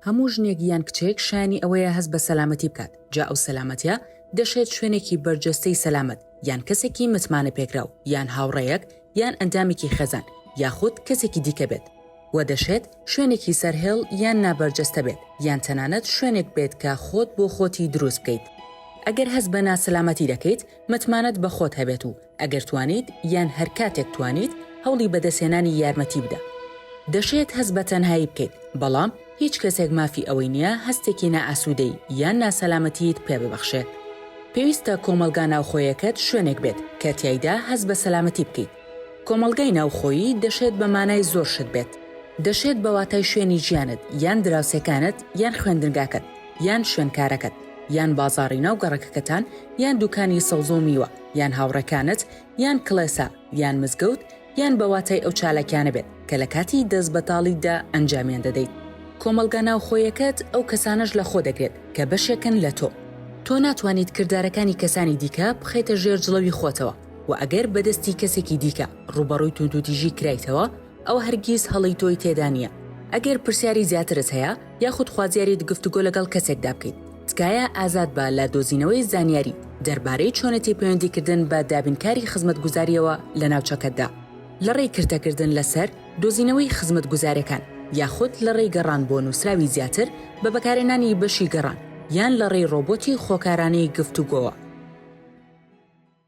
هەموو ژنێک یان کچێک شایانی ئەوەیە هەست بە سەلامەتی بکات، جا ئەو سەلامەتیە دەشێت شوێنێکی بەرجەستەی سەلامەت، یان کەسێکی متمانەپێکراو، یان هاوڕێیەک، یان ئەندامێکی خێزان، یاخود کەسێکی دیکە بێت. وە دەشێت شوێنێکی سەرهێڵ یان نابەرجەستە بێت، یان تەنانەت شوێنێک بێت کە خۆت بۆ خۆتی دروست بکەیت. ئەگەر هەست بە ناسەلامەتی دەکەیت، متمانەت بە خۆت هەبێت و ئەگەر توانیت یان هەر کاتێک توانیت هەوڵی بەدەستهێنانی یارمەتی بدە. دەشێت هەست بە تەنهایی بکەیت، بەڵام هیچ کەسێک مافی ئەوەی نییە هەستێکی نائاسوودەیی یان ناسەلامەتییت پێ ببەخشێت. پێویستە کۆمەڵگا ناوخۆیەکەت شوێنێک بێت کە تیایدا هەست بە سەلامەتی بکەیت. کۆمەڵگای ناوخۆیی دەشێت بە مانای زۆر شت بێت. دەشێت بە واتای شوێنی ژیانت یان دراوسێکانت یان خوێندنگاکەت یان شوێنکارەکەت یان بازاڕی ناو گەڕەکەکەتان یان دوکانی سەوزە و میوە. یان هاوڕێکانت یان کڵێسا یان مزگەوت یان بە واتای ئەو چالاکیانە بێت کە لە کاتی دەست بەتاڵیدا ئەنجامیان دەدەیت. کۆمەڵگا ناوخۆیەکەت ئەو کەسانەش لە خۆ دەگرێت کە بەشێکن لە تۆ. تۆ ناتوانیت کردارەکانی کەسانی دیکە بخەیتە ژێر جڵەوی خۆتەوە و ئەگەر بە دەستی کەسێکی دیکە ڕووبەڕووی توندوتیژی کرایتەوە ئەوە هەرگیز هەڵەی تۆی تێدا نییە. ئەگەر پرسیاری زیاترت هەیە یاخود خوازیاریت گفتوگۆ لەگەڵ کەسێکدا بکەیت، تکایە ئازاد بە لە دۆزینەوەی زانیاری دەربارەی چۆنێتی پەیوەندیکردن بە دابینکاری خزمەتگوزارییەوە لە ناوچەکەتدا، لەڕێی کرتەکردن لەسەر دۆزینەوەی خزمەتگوزارەکان، یاخود لەڕێی گەڕان بۆ نووسراوی زیاتر بە بەکارهێنانی بەشی گەڕان، یان لەڕێی ڕۆبۆتی خۆکارانەی گفتوگۆوە.